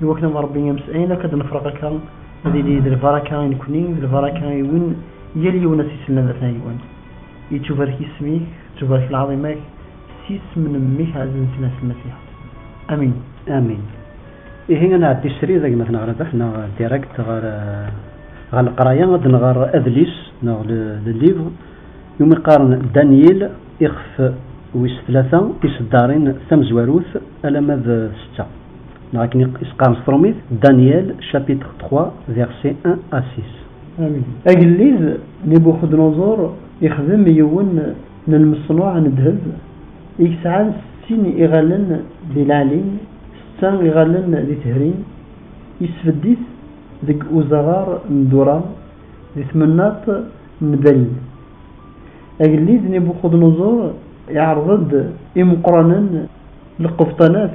I wakken ad nṛebbi amesɛin akk ad nefreq akka, ad yili d lbaraka i nekkni, d lbaraka i win yal yiwen ad s-isellen ad atan yiwen. Yettubarek yisem-ik, tettubarek lɛaḍima-k, s yisem n Mmi-k ɛzizen si nas Lmasiḥet. Amin. Amin. Ihi ad nɛeddi srid a gma-tneɣ Rabeḥ neɣ direct ɣer ɣer leqraya, ad nɣer adlis neɣ le le livre i wumi qqaren Danyil, ixef wis tlata, tiseddarin, tamezwarut alamma d setta. Neɣ akken i s-qqaren s trumit, Daniel, chapitre 3, versets 1 à 6. Amin. Agellid Nibuxednuẓur ixdem yiwen n lmeṣnuɛ n ddheb i yesɛan settin iɣallen di leɛlim, setta iɣallen di tehrim, yesbedd-it deg uzaɣar n Dura, di tmennaṭ n Babil. Agellid Nibuxednuẓur iɛreḍ-d imeqqranen n lqebṭanat.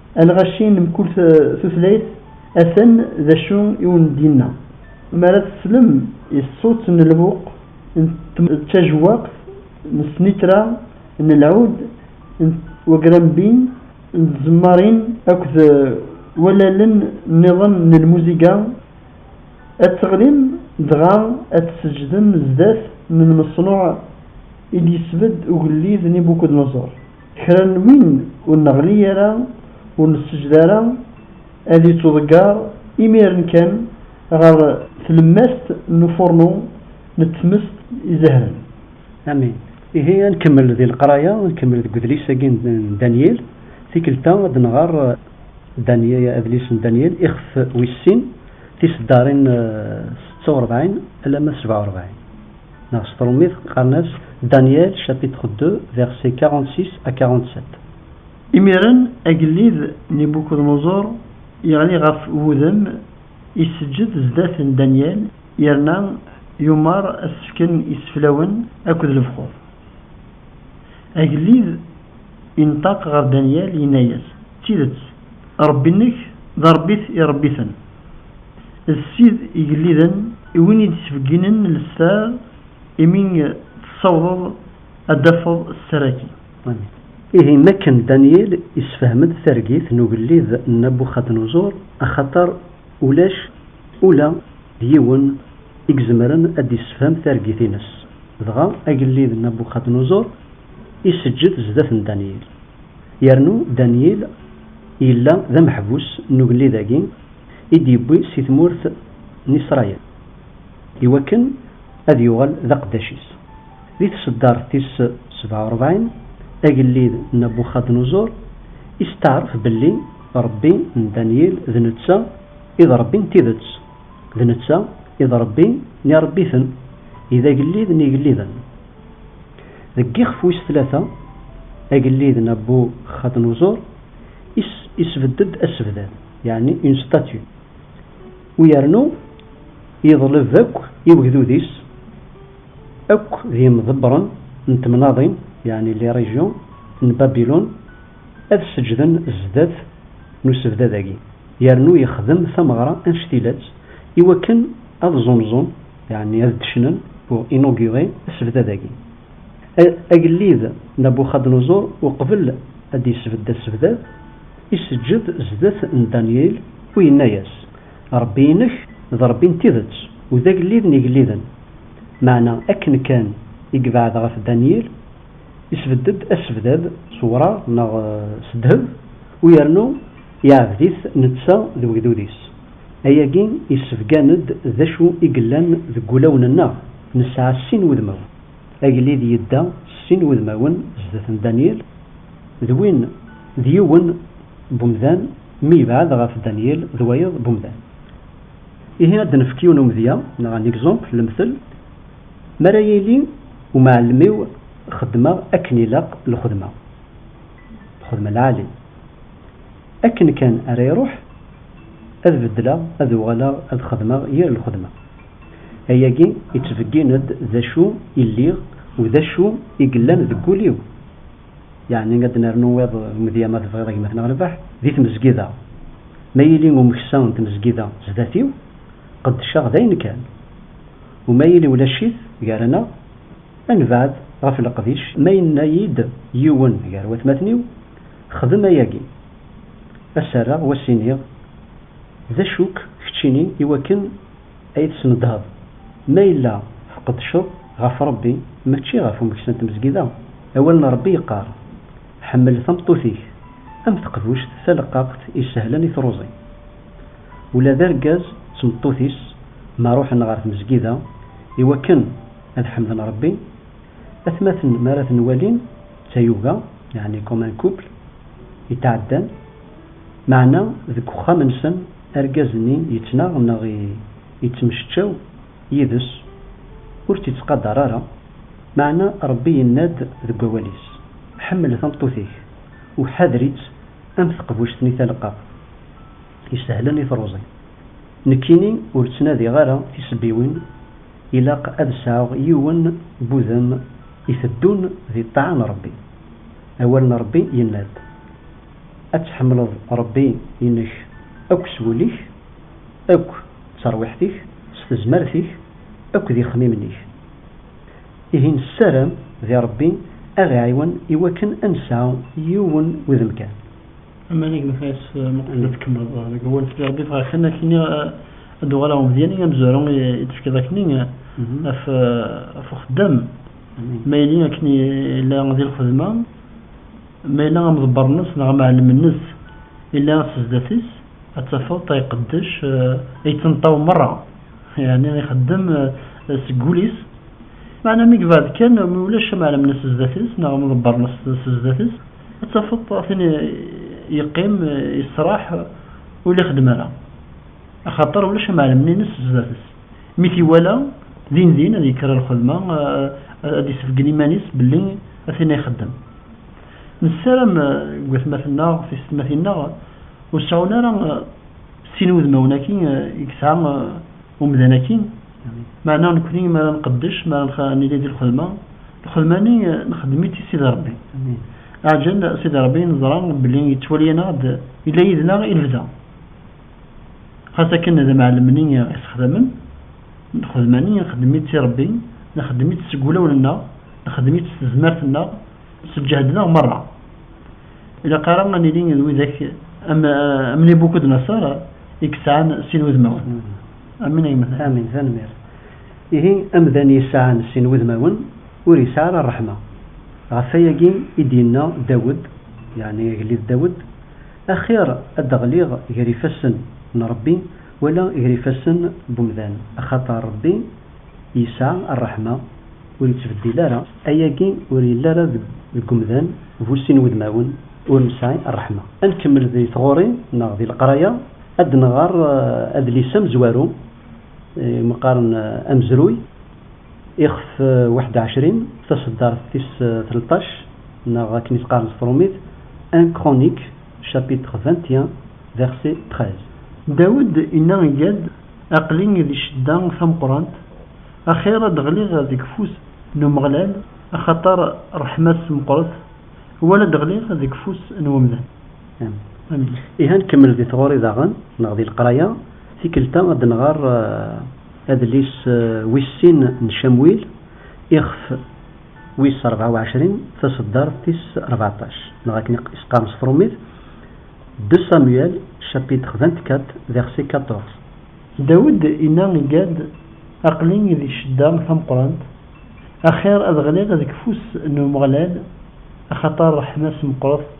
Alɣaci n mkul tutlayt atan d acu i wen-d-yenna. Mi ara teslem i ṣṣut n lbuq n tajewwaqt n snitra n lɛud n wagrambin n tzemmarin akked wallalen nniḍen n lmuziga, ad teɣlim dɣa ad tseǧǧdem zdat n lmeṣnuɛ i d-yesbedd ugellid Nibukudunuṣur. Kra n win ur neɣli ara, ur nessejed ara, ad yettuḍeggar imiren kan ɣer tlemmast n ufurnu n tmest izehnen. Amin. Ihi ad nkemmel di leqraya, ad nkemmel deg udlis-agi n Danyil. Tikkelt-a ad nɣer adlis n Danyil, ixef wis sin, tiseddarin setta u rebɛin alamma sebɛa u rebɛin. Neɣ s trumit qqaren-as Daniel chapitre 2 versets 46 à 47. Imiren agellid Nibukuḍnuẓur yeɣli ɣef wudem, iseǧǧed sdat n Daniel, yerna yumeṛ ad s-fken iseflawen akked lefxur. Agellid inṭaq ɣer Daniel, yenna-yas, D tidet, Ṛebbi-nnek d Ṛebbi-t iṛebbi-ten. D Sid igelliden i win i d-ittbegginen lesrar imi tessawḍeḍ ad d-tafeḍ ssar-agi. Ihi mi akken Danyil isefhem-d targit n ugellid n Nabuxadnuẓur, axaṭer ulac ula d yiwen i izemren ad d-isefhem targit-ines, dɣa agellid n Nabuxadnuẓur iseǧǧed zdat n Danyil. Yernu Danyil yella d ameḥbus n ugellid-agi i d-yewwi si tmurt n Isṛayil, i wakken ad yuɣal d aqeddac-is. Di tṣeddart tis sebɛa u ṛebɛin, agellid Nabuxadnuẓur isteɛṛef belli Ṛebbi n Danyil d netta i d Ṛebbi n tidet, d netta i d Ṛebbi n iṛebbiten, i d agellid n yigelliden. Deg yixef wis tlata, agellid Nabuxadnuẓur isbedd-d asebdad, yeɛni une statue, u yernu yeḍleb akk i wegdud-is akk d yimḍebbren n temnaḍin, yeɛni les régions, n Babilun ad sseǧden sdat n usebdad-agi, yernu yexdem tameɣra anect ila-tt iwakken ad ẓunẓun, Yeɛni ad d-cnun pour inaugurer asebdad-agi. Agellid Nabuxadnuẓur uqbel ad d-yesbedd asebdad, iseǧǧed sdat n Danyil u yenna-yas, Ṛebbi-inek d Ṛebbi n tidet u d agellid n igelliden. Meɛna akken kan i yebɛed ɣef Danyil, isbedd-d asebdad s wṛaɣ neɣ s ddheb u yernu yeɛbed-it netta d wegdud-is. Ayagi yessebgan-d d acu i yellan deg wulawen-nneɣ, nesɛa sin wudmawen. Agellid yedda s sin wudmawen sdat n Danyil, d win d yiwen n umdan mi yebɛed ɣef Danyil d wayeḍ n umdan. Ihi ad d-nefk yiwen umedya neɣ un exemple, lemtel, Mi ara yili umɛellem-iw xeddmeɣ akken ilaq lxedma, lxedma lɛali. Akken kan ara iruḥ, ad beddleɣ, ad uɣaleɣ ad xedmeɣ yir lxedma. Ayagi yettbeggin-d d acu i lliɣ u d acu i yellan deg wul-iw. Yeɛni ad d-nernu wiḍ umedya ma tebɣiḍ a gma-tneɣ Rbaḥ, di tmezgida. Ma yili umeksa n tmezgida zdat-iw, qeddceɣ dayen kan. U ma yili ulac-it gar-aneɣ, Anbaɛd, ɣef leqdic, ma yenna-yi-d yiwen gar watmaten-iw, Xdem ayagi, a s-rreɣ wa s-iniɣ, D acu-k keččini i wakken ay tesnedheḍ? Ma yella tqeddceḍ ɣef Rebbi, mačči ɣef umeksa n tmezgida? Awal n Rebbi yeqqar, Ḥemmel tameṭṭut-ik am teqbuct taleqqaqt isehlen i truẓi. Ula d argaz d tmeṭṭut-is ma ruḥen ɣer tmezgida i wakken, Ad ḥemden Ṛebbi. Atmaten mi ara ten-walin d tayuga, yeɛni comme un couple, i tɛeddan, meɛna deg uxxam-nsen argaz-nni yettnaɣ neɣ yettemceččaw yid-s, ur tt-ittqadar ara, meɛna Ṛebbi yenna-d deg wawal-is, Ḥemmel tameṭṭut-ik u ḥader-itt am teqbuct-nni taleqqaqt, isehlen i truẓi. Nekkini ur ttnadiɣ ara tisebbiwin, Ilaq ad sɛuɣ yiwen n wudem iteddun di ṭṭaɛa n Ṛebbi. Awal n Ṛebbi yenna-d, Ad tḥemmleḍ Ṛebbi-inek akk s wul-ik, akk d terwiḥt-ik, s tezmert-ik, akk d ixemmimen-ik. Ihi nessaram di Ṛebbi aɣ-iɛiwen iwakken ad nesɛu yiwen wudem kan. Aman i gmefas muqbel ad tkemmleḍ deg awal s Rebbi ffeɣ akken akkenni ad uɣal aɣ umedyan i amezwaru i d-tefkiḍ akkenni af af uxeddam ma yelli akken yella di lxedma ma yella amḍebber-nnes neɣ amɛellem-nnes yella s sdat-is ad tafeḍ tay qeddec yettenṭaw merra yeɛni ixeddem seg wul-is meɛna mi yebɛed kan mi ulac amɛellem-nnes sdat-is neɣ amḍebber-nnes sdat-is ad tafeḍ tin yeqqim yesraḥ ur la xeddem ara axaṭer ulac amɛellem-nnes sdat-s mi t-iwala din din ad yekker ar lxedma ad d-yessebgen iman-is belli ad tin ay ixeddem nessaram deg watmaten-nneɣ tisetmatin-nneɣ ur seɛɛun ara sin wudmawen-agi i yesɛa umdan-agi Meɛna nekni mi ara nqeddec, mi ara nili di lxedma, lxedma-nni nexdem-itt i Sidi Ṛebbi. Aɛjel Sidi Ṛebbi neẓra belli yettwali-aneɣ-d, yella yid-neɣ i lebda. Xas akken d amɛellem-nni isexdamen, lxedma-nni nexdem-itt i Ṛebbi, nexdem-itt seg wulawen-nneɣ, nexdem-itt s tezmert-nneɣ, s lǧehd-nneɣ meṛṛa. Ilaq ara ad nili d widak am Nibukudnaṣar i yesɛan sin wudmawen. Amin ayemet amin tanemmirt. Ihi amdan yesɛan sin wudmawen ur yesɛi ara ṛṛeḥma. Ɣef wayagi i d-yenna Dawed, yeɛni agellid Dawed, Axir ad d-ɣliɣ ger ifassen n Ṛebbi wala ger ifassen n wemdan, axaṭer Ṛebbi yesɛa ṛṛeḥma, ur yettbeddil ara. Ayagi ur yelli ara deg wemdan bu sin wudmawen ur nesɛi ṛṛeḥma. Ad nkemmel di tɣuri neɣ di leqraya. Ad d-nɣer adlis amezwaru i meqqaren Amezruy, ixef waḥed u ɛecrin, taṣeddart tis tleṭṭac, neɣ akken i t-qqaren s tṛumit, Un Chronique, chapitre vingt et un, verset treize. Dawed inna i Gad, Aql-i di ccedda tameqqrant, axir ad ɣliɣ deg ufus n Umeɣlal, axaṭer ṛṛeḥma-s meqqret, wala ad ɣliɣ deg ufus n wemdan. Ihi ad nkemmel di tɣuri daɣen neɣ di leqraya, tikkelt-a ad nɣer adlis wis sin n Camwil, ixef wis rebɛa u ɛecrin, taseddart tis rbeɛṭac, neɣ akken i s-qqaren s trumit, De Samuel, chapitre vingt-quatre, verset quatorze. Dawed inna i Gad, Aql-i di ccedda tameqqrant, axir ad ɣliɣ deg ufus n Umeɣlal, axaṭer ṛṛeḥma-s meqqret.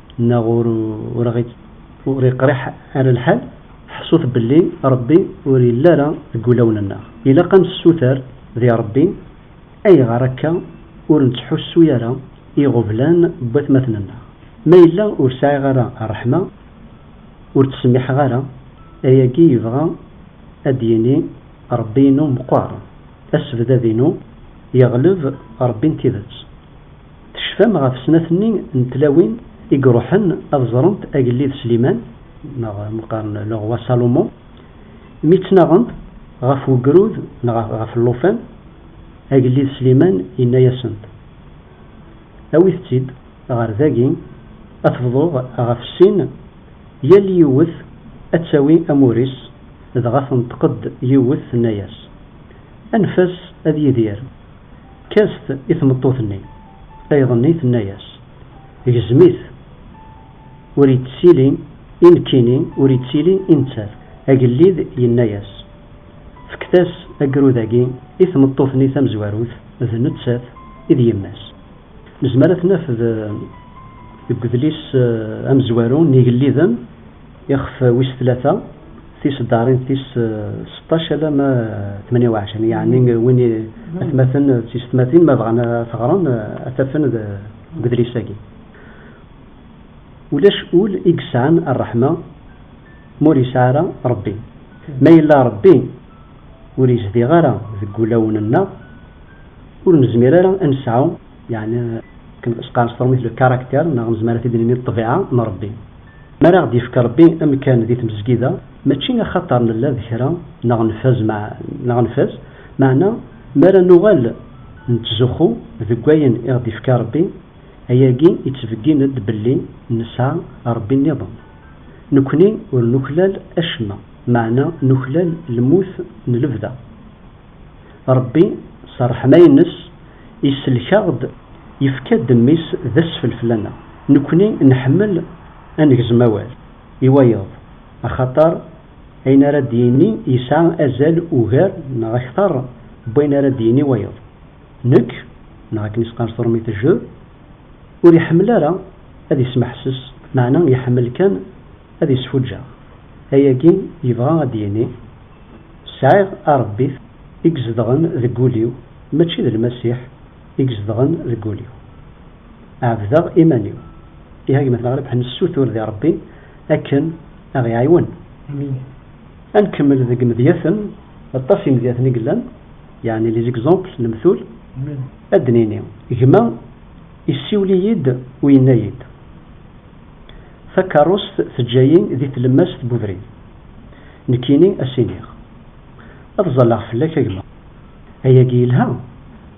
Neɣ ur ur iqriḥ ara lḥal? Ḥsut belli Ṛebbi ur yelli ara deg wulawen-nneɣ. Ilaq ad nessuter di Ṛebbi, Ayɣer akka ur nettḥussu ara i iɣublan n watmaten-nneɣ? Ma yella ur sɛiɣ ara ṛṛeḥma, ur ttsemmiḥeɣ ara, ayagi yebɣa ad d-yini Ṛebbi-inu meqqer, asebdad-inu yeɣleb Ṛebbi n tidet. Tecfam ɣef snat-nni n tlawin i iruḥen ad ẓrent agellid Sliman, neɣ ma qqaren le roi Salomon, mi ttnaɣent ɣef wegrud neɣ ɣef llufan? Agellid Sliman yenna-asent, Awit-tt-id ɣer dagi, ad t-bḍuɣ ɣef sin, yal yiwet ad tawi amur-is, dɣa tenṭeq-d yiwet tenna-as, Anef-as ad yidir! Kkes-t i tmeṭṭut-nni. Ayḍ-nni tenna-yas, Gzem-it. Ur yettili i nekkini, ur yettili i nettat. Agellid yenna-yas, Fket-as agrud-agi i tmeṭṭut-nni tamezwarut, d nettat i d yemma-s. Nezmer ad t-naf deg udlis amezwaru n yigelliden. Ixef wis tlata, tiseddarin tis seṭṭac alamma tmanya u ɛecrin, yeɛni win i atmaten d tisetmatin ma bɣan ad t-ɣren ad t-afen deg udlis-agi. Ulac ul i yesɛan rreḥma ma ur yesɛi ara Rebbi. Ma yella Rebbi ur yezdiɣ ara deg wulawen-nneɣ, ur nezmir ara ad nesɛu, yeɛni akken s-qqaren s trumiṭ le caractère, neɣ nezmer ad t-id-nini ṭṭbiɛa n Rebbi. Mi ara ɣ-d-yefk Ṛebbi amkan di tmezgida, mačči axaṭer nella d kra neɣ nfaz neɣ nfaz, meɛna mi ara nuɣal nettzuxxu deg wayen i ɣ-d-ifka Ṛebbi, ayagi ittbeggin-d belli nesɛa Ṛebbi nniḍen. Nekni ur nuklal acemma, meɛna nuklal lmut n lebda. Ṛebbi, s ṛṛeḥma-ines, isellek-aɣ-d, yefka-d Mmi-s d asfel fell-aneɣ. Nekkni nḥemmel a negzem awal i wayeḍ, axaṭer ayen ara d-yini yesɛa azal ugar neɣ akteṛ n wayen ara d-yini wayeḍ. Nekk, neɣ akken i s-qqar turmit je, ur iḥemmel ara ad ismeḥses, meɛna iḥemmel kan. Ad isfuǧǧeɣ. Ayagi yebɣa ad d-yini, Sɛiɣ Arebbit i izedɣen deg wul-iw, mačči d Lmasiḥ i izedɣen deg wul-iw. Ɛebdeɣ iman-iw. Ih a gma-tneɣ Rebḥ nessutur di Rebbi akken a ɣ-iɛiwen. Amin. A nkemmel deg imedyaten, aṭas imedyaten i yellan, yeɛni les exemples, lemtul, ad d-nini, gma issiwel-iyi-d u yenna-yi-d. Takerrust teǧǧa-yi di tlemmast n ubrid. Nekkini a s-iniɣ, Ad ẓalleɣ fell-ak a gma. Ayagi yelha,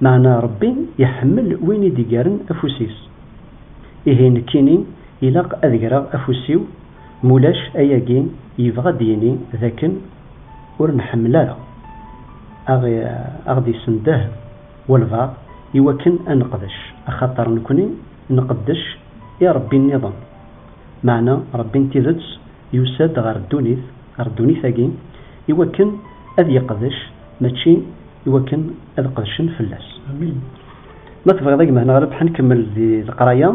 meɛna Rebbi iḥemmel win i d-igaren afus-is. Ihi nekkini ilaq ad greɣ afus-iw, mulac ayagi yebɣa ad d-yini d akken ur nḥemmel ara aɣ-d-isendeh walbaɛḍ i wakken ad neqdec, axaṭer nekkni Nqeddec i Ṛebbi nniḍen, meɛna Ṛebbi n tidet yusa-d ɣer ddunit, ɣer ddunit-agi, i wakken ad yeqdec, mačči i wakken ad qedcen fell-as. Ma tebɣiḍ a gma neɣ Rebḥa nkemmel di leqraya,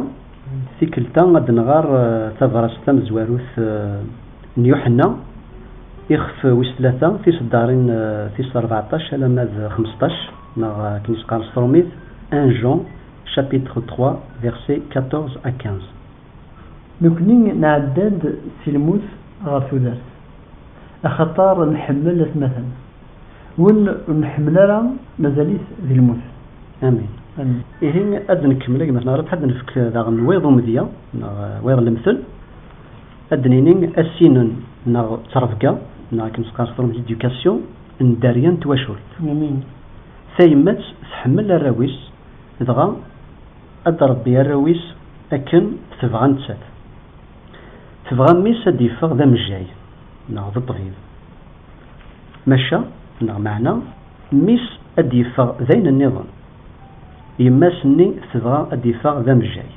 tikkelt-a ad d-nɣer tabṛast tamezwarut n Yuḥenna, ixef wis tlata, tiseddaṛin tis ṛbeɛṭac alamma d xmesṭac, neɣ akken i s-qqaren s tṛumit, un Jean. Chapitre 3, versets 14 à 15. Nekkni nɛedda-d si lmut ɣer tudert, axaṭer nḥemmel atmaten. Win ur nḥemmel ara, mazal-it di lmut. Amin. Amin. Ihi ad d-nekmel agmat neɣ ad d-nefk daɣen wiḍ umedya neɣ wiḍ lemtel, ad d-nini asinen neɣ d trebga neɣ akken s-qqar s tṛumt l'éducation n dderya n twacult. Amin. Tayemmat tḥemmel arraw-is. Dɣa ad d-ṛebbi arraw-is akken tebɣa nettat. Tebɣa mmi-s ad d-yeffeɣ d amejjay neɣ d ṭṭbib. Maca neɣ meɛna mmi-s ad d-yeffeɣ d ayen nniḍen. Yemma-s nni tebɣa ad d-iffeɣ d amejjay.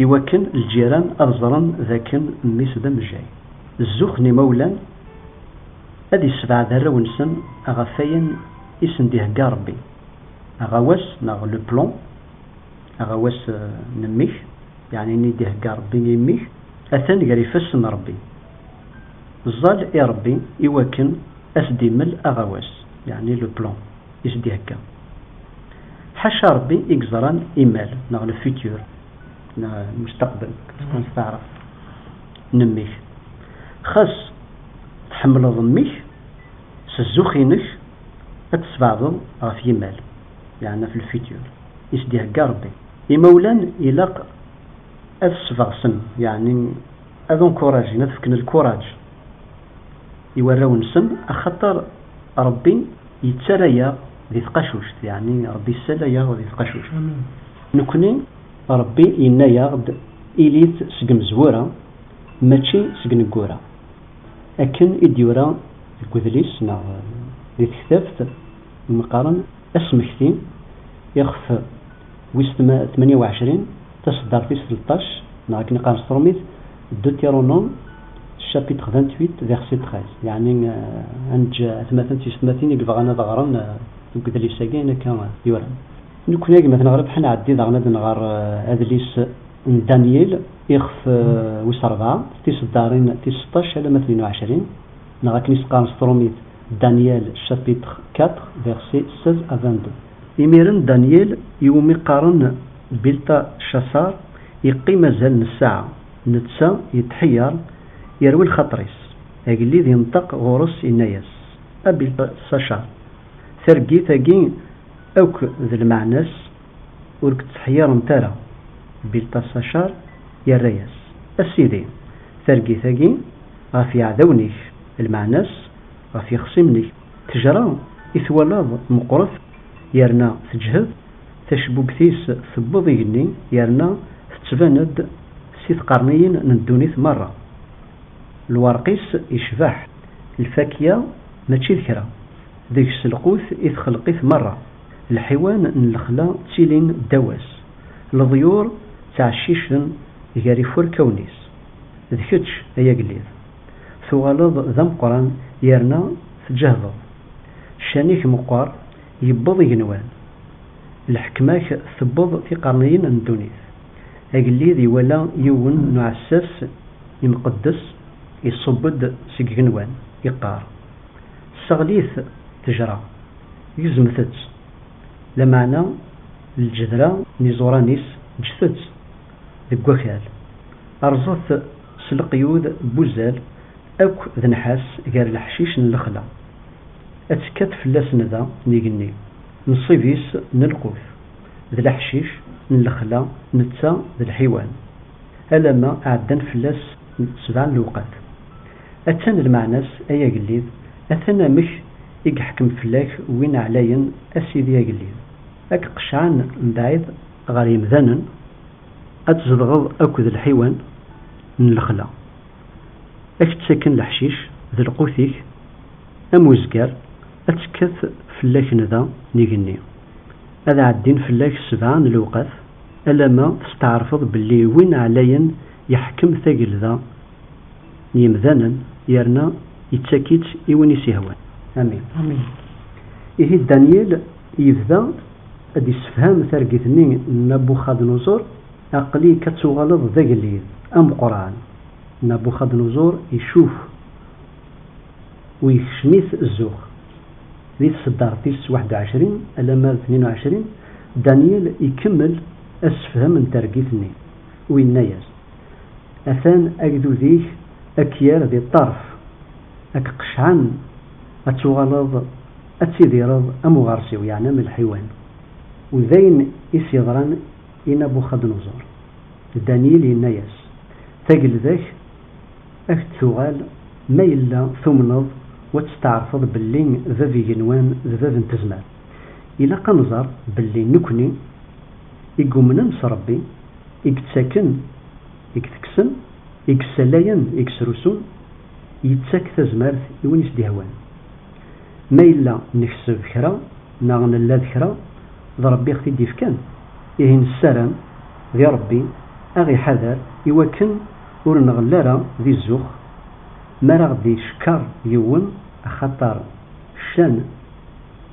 I wakken lǧiran ad ẓren d akken mmi-s d amejjay. Zzux n imawlan ad issebɛed arraw-nsen ɣef wayen i sen-d-ihegga ṛebbi. Aɣawas neɣ le plan, aɣawas n mmi-k, yeɛni ayen i d-ihegga Rebbi i mmi-k, atan gar ifassen n Rebbi. Ẓẓal i Rebbi i wakken ad s-d-immel aɣawas, yeɛni le plan, i s-d-ihegga. Ḥaca Rebbi i yeẓran imal neɣ le futur, lmustaqbel, qqaren s taɛrabt, n mmi-k. Xas tḥemmleḍ mmi-k s zzux-inek, Ad tesbeɛdeḍ ɣef yimal, yeɛna fi lfutur, i s-d-ihegga Rebbi. Imawlan ilaq ad sbeɣsen, yeɛni ad unkurajen, ad fken lkuraǧ i warraw-nsen, axaṭer Rebbi yettarra-yaɣ di tqacuct, yeɛni Rebbi yessala-yaɣ di tqacuct. Nekkni, Rebbi yenna-yaɣ-d, Ilit seg imezwura, mačči seg ineggura. Akken i d-yura deg wedlis neɣ di tektabt i meqqaren Asmekti, ixef wis tmanya uɛecrin, taseddart tis tleṭṭac, neɣ akken i qqaren s trumit, Deutéronome, chapitre vingt-huit, verset treize. Yeɛni ad neǧǧ atmaten d teysetmatin i yebɣan ad ɣren deg wedlis-agi ayen akka yuran. Nekkni agmaten ɣribeḥ, nɛeddi daɣen ad nɣer adlis n Danyil. Ixef wis rebɛa, s tiseddaṛin tis seṭṭac alamma tnin u ɛecrin, neɣ akken i s-qqaren s trumit, Daniel chapitre quatre versets seize à vingt-deux. Imiren Daniel, i wumi qqaren Bilṭacaṣaṛ, iqqim azal n ssaɛa, netta yetḥeyyeṛ, yerwi lxaṭer-is. Agellid inṭeq ɣur-s, inna-yas, A Bilṭaṣacaṛ, targit-agi akk d lmeɛna-s, Ur k-tteḥyirent ara. Bilṭaṣacar yerra-yas, A sidi, targit-agi ɣef yiɛdawen-ik, lmeɛna-s, ɣef yixṣimen-ik, ttejra i twalaḍ meqqret yerna teǧhed, tacbubt-is tewweḍ igenni yerna tettban-d si tqerniyin n ddunit merra. Lwerq-is yecbeḥ, lfakya mačči d kra, deg-s lqut i txelq-it merra. Lḥiwan n lexla ttilin ddaw-as, leḍyur ttɛeccicen gar ifurkawen-is. D kečč, ay agellid, tuɣaleḍ d ameqqran yerna tǧehdeḍ. Ccan-ik meqqer, yewweḍ igenwan. Lḥekma-k tewweḍ tiqerniyin n ddunit. Agellid iwala yiwen n uɛessas imqeddes iṣubb-d seg igenwan, iqqar. Tesseɣli-t ttejra, gezmet-tt, lameɛna lǧedra n iẓuran-is ǧǧet-tt deg wakal, rẓet-t s leqyud n wuzzal akk d nnḥas gar leḥcic n lexla, ad tekkat fell-as nda n igenni, nnṣib-is n lqut d leḥcic n lexla netta d lḥiwan, alamma ɛeddan fell-as sebɛa n lewqat. Attan lmeɛna-s, ay agellid, atan amek i yeḥkem fell-ak win ɛlayen, a Sidi agellid, ad k-qecɛen mebɛid ɣer yemdanen, ad tzedɣeḍ akked lḥiwan n lexla, ad k-ttaken leḥcic d lqut-ik am uzgar, ad tekkat fell-ak nda n igenni, ad ɛeddin fell-ak ssebɛa n lewqat, alamma testeɛrfeḍ belli win ɛlayen yeḥkem tagelda, n yimdanen yerna yettak-itt i win i s-yehwan. Amin. Amin. Ihi Danyil yebda ad d-yessefham targit-nni n Nabuxadnuẓur, Aql-ik ad tuɣaleḍ d agellid ameqqran. Nabuxadnuẓur icuf u yekcem-it zzux. Di tseddart tis waḥed u ɛecrin alamma d tnin u ɛecrin, Danyil ikemmel assefhem n targit-nni u yenna-yas, Atan agdud-ik a k-yerr di ṭṭerf, a k-qecɛen, ad tuɣaleḍ ad tidireḍ am uɣersiw, yeɛni am lḥiwan. U d ayen i s-yeḍran i Nabuxadnuẓur. Danyil yenna-yas, Tagelda-k a k-d-tuɣal ma yella tumneḍ u ad testeɛrfeḍ belli bab igenwan d bab n tezmar. Ilaq ad nẓer belli nekkni i yumnen s Ṛebbi, i yettaken, i itekksen, i yessalayen, i yesrusun, yettak tazmert i win i s-d-ihwan. Ma yella nekseb kra neɣ nella d kra, d Rebbi i ɣ-t-id-ifkan, ihi nessaram di Rebbi a ɣ-iḥader i wakken ur nɣell ara di zzux mi ara ɣ-d-icekkeṛ yiwen, axaṭer ccan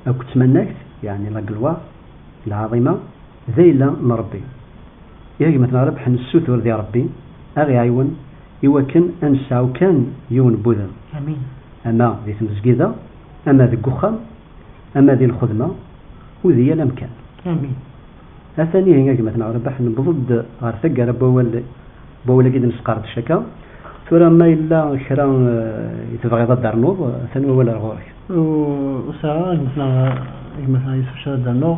akked tmannagt, yeɛni la gloire, lɛaḍima, D ayla n Ṛebbi. I gma-tneɣ ara rebḥen nessutur di Ṛebbi aɣ iɛiwen i wakken a nesɛu kan yiwen n wudem, ama di tmezgida, ama deg uxxam, ama di lxedma u di yal amkan. Atan ihi a gma-tneɣ Rabaḥ newweḍ-d ɣer taggara n wawal n wawal-agi d-nesqerdec akka. Tura ma yella kra i tebɣiḍ ad d-ternuḍ atan wawal ar ɣur-k. Ur sɛiɣ ara a gma-tneɣ Yusef kra ad d-rnuɣ.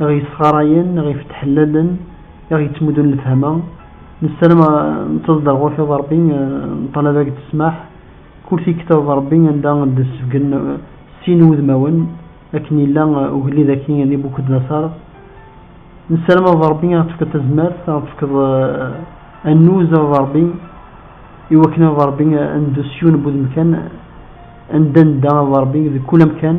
i ɣ-yessɣarayen, i ɣ-ifettḥellalen, i ɣ-yettmuddun lefhama. Nessaram nettaẓ-d ar ɣur-k a Ṛebbi, neṭṭalab-ak-d ssmaḥ, kul tikta d Ṛebbi anda d-ssebgen sin wudmawen, akken yella ugellid akk i Nibukudnaṣar. Nessaram a Ṛebbi a ɣ-tefkeḍ tazmert, a ɣ-tefkeḍ annuz a Ṛebbi, iwakken a Ṛebbi ad neddu s yiwen n wudem kan, anda nedda a Ṛebbi, deg kul amkan.